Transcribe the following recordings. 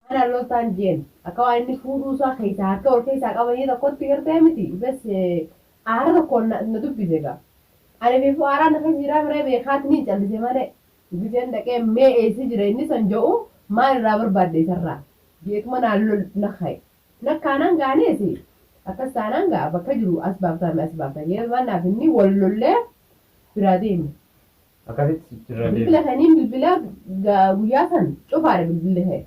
Haadha Loltaan Jeen akka waan inni fuudhuu isaa keessaa harka wal keessaa qabanii tokkotti gartee miti bes aara tokkoon na na dubbise gaa. Ani beefu aaraa na keessa jiraa miree beekaatiniin callise malee dubbiseen dhaqee mee eessa jira inni san ja'u maal irraa barbaadde isarraa jeetuma naan lol na ka'e. Na kaanaan gaanees akkas taanaan gaa bakka jiru as baaftaa mee as baaftaa jee waan naaf inni wal lollee biraa deeme. Akkasitti sitti irra deebi'e. Bilbila saniin bilbila ga- guyyaa san cufaadha bilbilli kee.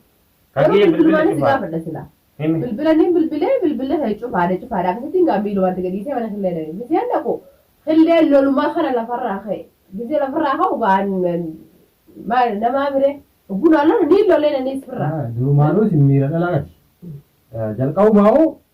Kan Garuu kiyya bilbila bilbilumaanis si cufaa. gaafadha silaa. Himi. Bilbila niin bilbilee bilbila kee cufaadha cufaadha akkasitti gaa miilumatti gadiisee mana killee dhaqe. Giseen dhaqu killeen lolumaa kana lafarraa ka'e. Gisee lafarraa ka'u gaa maal namaa biree bunaa lola niin lolee naniis firraa. Durumaanuu isin miira dhalaati. Jalqabumaa hoo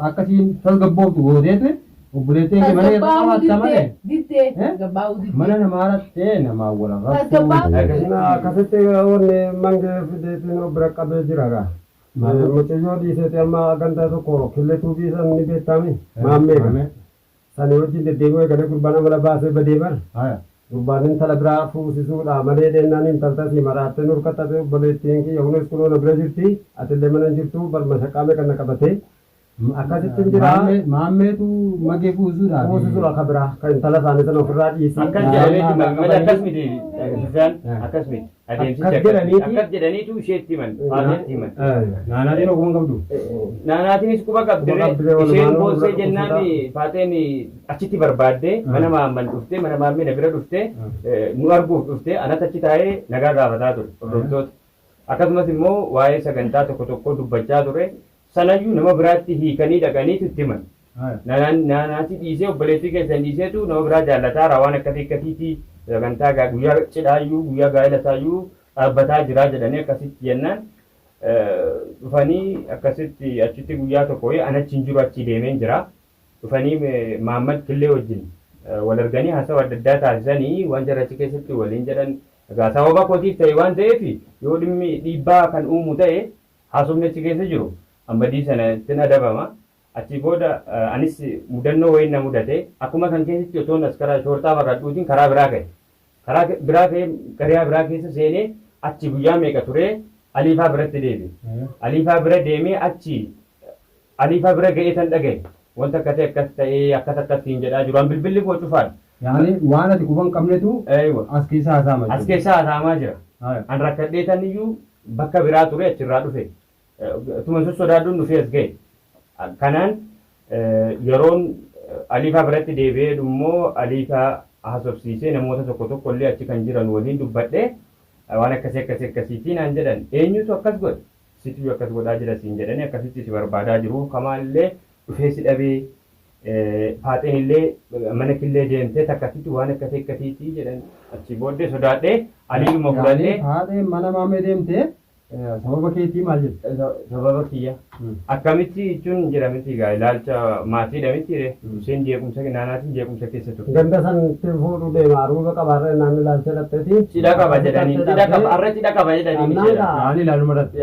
Akka isiin tasgabbooftu gooteetu obboleettiin kee mana irra qabaatta malee. Diddee tasgabbaa'uu diddee. Mana namaa rattee namaa wal arrabsuu. Akkasitti wanni mange fideetiin of bira qabee jira gaa. Mucayyoo dhiiseeti amma gandaa tokko killee tuubii san ni beektaami maammee gaa. Sani wajjin deddeebi'uu eegalee gurbaan amala baasee badee bar. Haya. Gurbaan intala biraa fuusisuudha malee dhennaan intaltasii maraattee nurka xaxee obboleettiin kiyya hunees kunoo na bira jirti atillee mana hin jirtuu bar mashaqqaa meeqa na qabatee akkasittin jira. Maammee maammeetu magee fuusisuudhaaf. Fuusisuudha ka biraa ka intala isaanii sana ofirraa dhiisii. Akkas jedhameeti maamila akkas miti isaan akkas miti. Adeemsichi Akkas akkas- jedhaniiti. akkas jedhaniitu isheetti himan. Faatiyaatti himan. Naanaatiin ogummaa qabdu. Naanaatiinis quba qabdi. Quba qabdi, walumaan Isheen wal boossee bira jennaan dhukkubsataa. Faateen achitti barbaadde mana maamman dhufte mana maammee na bira dhufte eh, nu arguuf dhufte anatti achi taa'ee nagaa gaafataa ture hordoftoota. Akkasumas immoo waa'ee sagantaa tokko tokkoo dubbachaa ture. Sanayyuu nama biraatti hiikanii dhaqaniitu itti himan. Naati dhiisee obboleettii keessan dhiiseetu nama biraa jaallataara waan akkasii akkasiiti sagantaa guyyaa cidhaayyuu guyyaa gaa'ela isaayyuu dhaabbataa jiraa jedhanii akkasitti jennaan dhufanii akkasitti achitti guyyaa tokko wayii an achi hin jiru achi deemeen jira dhufanii Maammad Killee wajjin wal arganii haasawa adda addaa taasisanii waan jarri achi keessatti waliin jedhan egaa sababa kootiif ta'e waan ta'eef yoo dhimmi dhiibbaa kan uumu ta'e Haasofni achi keessa jiru an badii sanattin adabama, achii booda anis mudannoo wayiin na mudate, akkuma kan keetitti otoon as karaa shoorxaa baqadhuutiin karaa biraa ka'e. Karaa biraa ka'ee gariyaa biraa keessa seenee achi guyyaa meeqa turee Aliifaa biratti deebi'e. Aliifaa bira deemee achi Aliifaa bira ga'eetan dhagahe wanti akkasii akkas ta'ee akkas akkas siin jedhaa jiru, an bilbilli koo cufaadha. Yaani waan ati quba hin qabnetu Eeywa. as keessa haasa'ama As jechuudha. keessa haasa'amaa jira. Haya. An rakkadheetan iyyuu Bakka biraa ture achirraa dhufe. Utuma hin sossodaadhuun dhufee as gahe. Kanaan yeroon Aliifaa biratti deebi'ee jedhu immoo Aliifaa haasofsiisee namoota tokko tokko illee achi kan jiran waliin dubbadhee waan akkasii akkasii akkasiitii naan jedhan. Eenyutu akkas godhe? Situyyu akkas godhaa jira siin jedhanii akkasitti si barbaadaa jiru. Kamaa illee dhufee si dhabee Faaxeenillee mana killee deemtee takkasitti waan akkasii akkasiitii jedhan achii booddee sodaadhee aliidhuma fudhadhee. Faaxeen mana maammee deemtee sababa keetii maal jette? Sababa kiyya. Akkamitti jechuun jira miti gaa ilaalcha maatiidha miti ree. Isheen jeequmsa naanaatiin jeequmsa keessa turte. Ganda san ittiin fuudhuu deema aruuza qaba harreen naan ilaalcha dhaqxeeti. Cidha qaba jedhaniin cidha qaba har'a cidha qaba jedhaniin. Naan ilaaluma dhaqxe.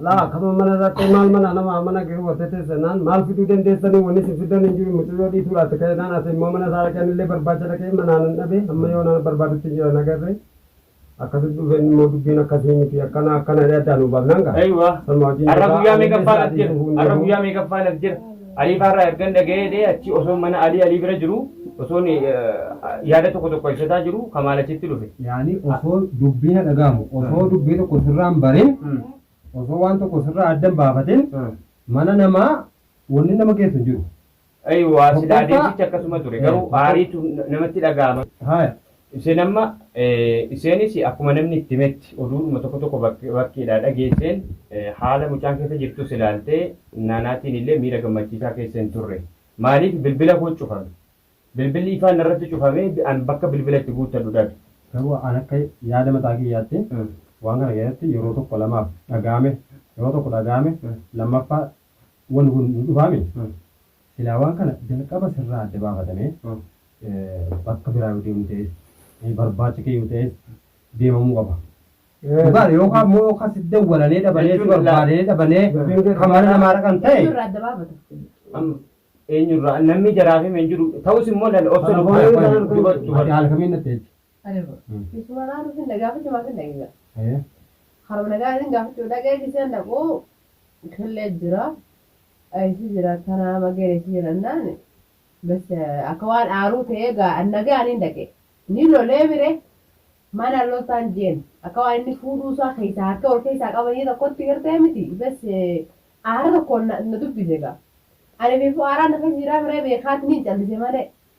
Laa kama mana irratti maal mana nama amana garuu wata teessa naan maal fiduu dandeessanii wanni isin fiddan hin jiru mucayyoo dhiituu laatti ka'e naan ati immoo mana isaa dhaqeen illee barbaacha dhaqee manaan hin dhabe amma yoo naan barbaadutti hin jiran agarre akkasitti dhufeen immoo dubbiin akkasii miti akkana akkana jedhee addaan nu baafnaan gaa. Aywa. Sanuma wajjin Arra jira. guyyaa meeqaffaa Ammallee laf jira. sa'aatii dhufuun Arra deemu. guyyaa meeqaffaa laf jira. Alii faa irraa ergan dhagayee dhee achii osoon mana Alii Alii bira jiru osoon yaada tokko tokko ibsataa jiru Kamaal achitti dhufe. Yaani osoo dubbii na dhagaamu osoo dubbii tokko sirraa hin barin osoo waan tokko sirraa adda hin baafatin mana namaa wanni nama geessu hin jiru. Eeywa silaa deemsichi akkasuma ture garuu aariitu namatti dhagaama. Haya Iseen amma Iseenis akkuma namni itti himetti oduudhuma tokko tokko bakkeedhaa dhageesseen haala mucaan keessa jirtus ilaaltee Naanaatiin illee miira gammachiisaa keessa hin turre. Maaliif bilbila koo cufame. Bilbilli ifaan narratti cufamee an bakka bilbila itti guuttadhu dhabe. Garuu an akka yaada mataa kiyyaatti waan kana keessatti yeroo tokko lamaaf dhaga'ame yeroo tokko dhaga'ame lammaffaa wanni kun hin dhufaami. Silaa waan kana jalqaba sirraa adda baafatame bakka biraa yoo deemuu ta'es barbaacha kee yoo ta'es deemamuu qaba. Dhugaadha yookaan immoo yookaan si dawwalanee dhabanee si barbaadee dhabanee kan mana namaa dhaqan ta'e. Eenyurraa adda baafata? Eenyurraa namni jaraafame hin jiru ta'us immoo lal obsa Ati haala kamiin natti jecha? Areba. Isuma naa dhufin na gaafachuu maaf hin dhaqe gaa. Haye. Haruma na gaafin gaafachuu dhaqee giseen dhaqu killee jira. Eessi jira tanaa mageen eessi jira naan. Bas akka waan aaruu ta'ee gaa an nagaan hin dhaqe. Ni lolee mire mana loltaan jeen akka waan inni fuudhuu isaa keessaa harka wal keessaa qabanii tokkotti gartee miti. Bas aara tokkoon na na dubbise gaa. Ani beeku aaraan na keessa jiraa mire beekaatti ni callise malee.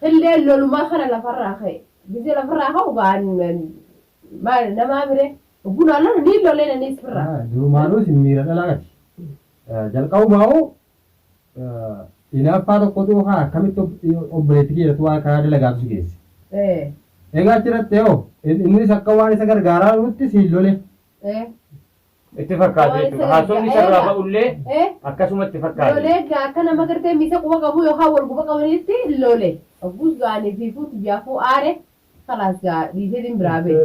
Qilleen lolumaa kana lafarraa ka'e. Gisee lafarraa ka'u ga'an maal namaa miree obbuu naa lolu niin lolee naniis firraa. Durumaanuu isin miira dhalaati. Jalqabumaa'uu inaaffaa tokkotu haa akkamitti obboleetti keerratti waan karaa dalagaatu si geesse. Egaa achirratti hoo innis akka waan isa gargaaraa jirutti siin lole. Itti fakkaate jechuudha. Haasofni isa irraa ba'ullee akkasumatti fakkaate. Lolee egaa akka nama gartee miisa quba qabu yookaan wal guba qabanitti lole. Ogguus gaanii fi fuuti jaafuu aare kalaas gaa dhiisee din biraa bee.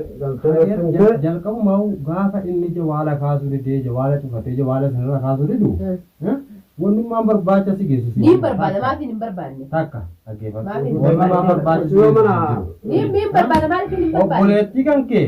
Jalqabuma gaafa inni jawaala kaasuu didee jawaala cufatee jawaala isinirra kaasuu didu wannummaan barbaacha si geessu si Niin barbaada maatiin hin barbaanne. takka dhaggeeffadhu Maaliif? wannummaan barbaacha si geessu si jiru. Niin niin barbaada maatiin hin barbaanne. obboleettii kan kee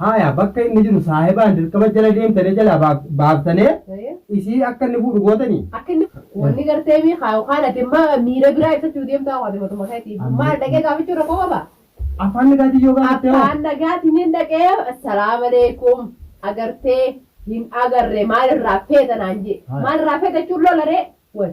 Haaya bakka inni jiru saahibaan dirqama jala deemtane jalaa baaf- baaftane Ee. isii akka inni fuudhu gootanii. Akka inni wanni gartee mi haa yookaan ati amma miira biraa ibsachuu deemtaa waan matuma keetii. Amma- Maal dhaqee gaafachuu rakkoo qaba? Afaan nagaatiin yoo gaafatte hoo? Afaan nagaatiin hin dhaqee assalaamu alaikum agartee hin agarre maalirraa feeta naan jee. Haa. Maalirraa feeta jechuun lolaree? Wal.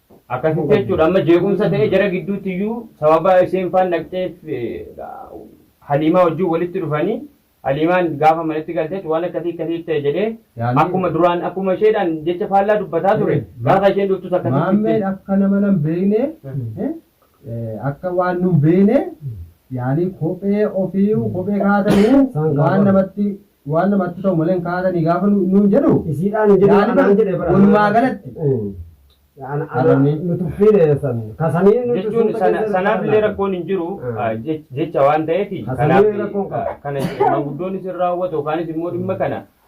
Akkasitti jechuudha amma jeequmsa ta'ee jara gidduutti iyyuu sababa isheen faan dhaqxeef Haliimaa wajjin walitti dhufanii Haliimaan gaafa manatti galteetti waan akkasii akkasii ta'e jedhee akkuma duraan akkuma isheedhaan jecha faallaa dubbataa ture gaafa isheen dhuftus akkasitti. Maammeen akka nama nan beekne akka waan nun beene yaani kophee ofiiyu kophee kaatanii Isaan waan gaafatu. namatti waan namatti ta'u malee hin kaatanii gaafa nu- nuun jedhu Isiidhaan hin jedhu Yaani anaan bar- jedhe bara. walumaa galatti. Ana Arabni. nu tuffiine san kasanii nu jechuun tuffuu sana- qajeelcha sanaaf illee sana. rakkoon hin jiru Mm. ah, jech- jecha waan ta'eef Hasanee kanaaf rakkoon qaba. ah, kana maanguddoonnis hin raawwatu yookaanis immoo dhimma kana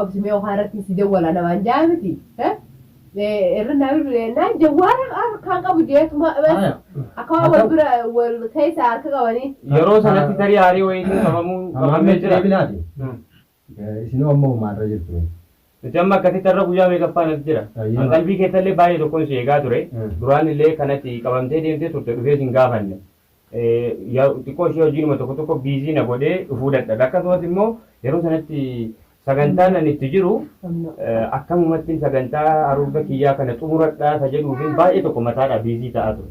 Obsi mee okaa irratti si jawwala namaan jaa miti. Irra naa bilbile naan jawwaala harkaan qabu jeetuma akkuma wal bira wal keessa harka qabanii. Yeroo sanatti tarii haarii wayiitiin qabamuu Ammaan qabamee meeshaa jira. deebinaati. Isin amma uummaarra jirtu. Nuti amma akkasitti har'a guyyaa meeqaffaa natti jira. Ayyee. Kan qalbii keessallee baay'ee tokkoon si eegaa ture. Mm. Duraan illee kanatti qabamtee deemtee turte dhufee sin gaafanne. Yaa xiqqoo ishee hojiinuma tokko tokko biizii na godhee dhufuu dadhabe. Akkasumas immoo yeroo sanatti sagantaan ani itti jiru akkamumatti sagantaa haruurga kiyyaa kana xumuradhaa isa jedhuufin baay'ee tokko mataadhaa biizii ta'aa ture.